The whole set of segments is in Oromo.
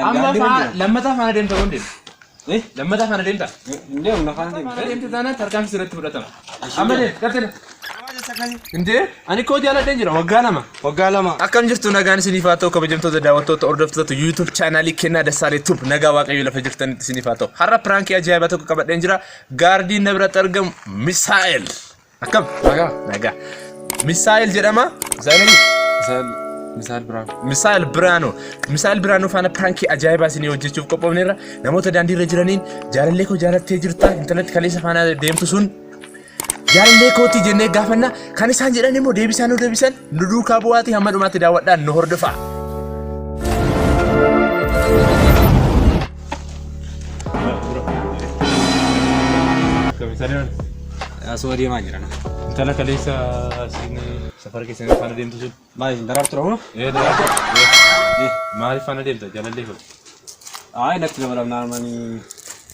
Amma faa lammataa faana deemta moo hin deemtu? Eh? Lammataa faana deemta? Hin deemu na faana Faana deemu. deemta taanaan tarkaanfii sirratti fudhatama. Amma deem, qaxxina. Nama jessa akkasi. Hindee? Ani koo jaaladheen jira waggaa lama. Waggaa lama. Akkam jirtu nagaan isiniif haa ta'u kabajamtoota daawwattoota hordoftoota YouTube chaanaalii kennaa Dassaalee Tube nagaa waaqayyo lafa jirtanitti isiniif haa ta'u. Har'a piraankii ajaa'ibaa tokko qabadheen jira. Gaardiin na biratti argamu Misaa'el. Akkam? Nagaa. Nagaa. Misaa'el jedhama. Misaa'el Misaa'el Misaa'el Biraanuu. Misaa'el Biraanuu. Misaa'el Biraanuu faana piraankii ajaa'ibaa isinii hojjechuuf qophoofneerra. Namoota daandiirra jiraniin jaalallee koo jaalattee jirta. Intalatti kaleessa faana deemtu sun jaalallee kooti jennee gaafanna. Kan isaan jedhan immoo deebisaa nu deebisan. Nu duukaa bu'aatii hamma dhumaatti daawwadhaan nu hordofaa. Asuma deemaa jiran. Intala kaleessa siin safara keessan faana deemtu sun. Maal isin daraartu dhabu? Maaliif faana deemta jaalallee hoo? Ayi natti dabalamnaan manii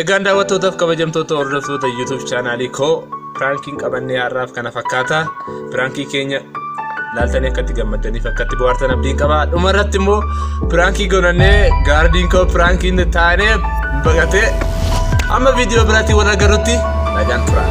Egaan daawwattootaaf kabajamtoota hordoftoota YouTube chaanaalii koo piraankiin qabannee har'aaf kana fakkaata. Piraankii keenya laaltanii akkatti gammaddaniif akkatti bohaartan abdiin qaba. Dhuma irratti immoo piraankii gonannee gaardiin koo piraankiin taanee baqatee amma viidiyoo biraatti wal agarrutti nagaan turaa.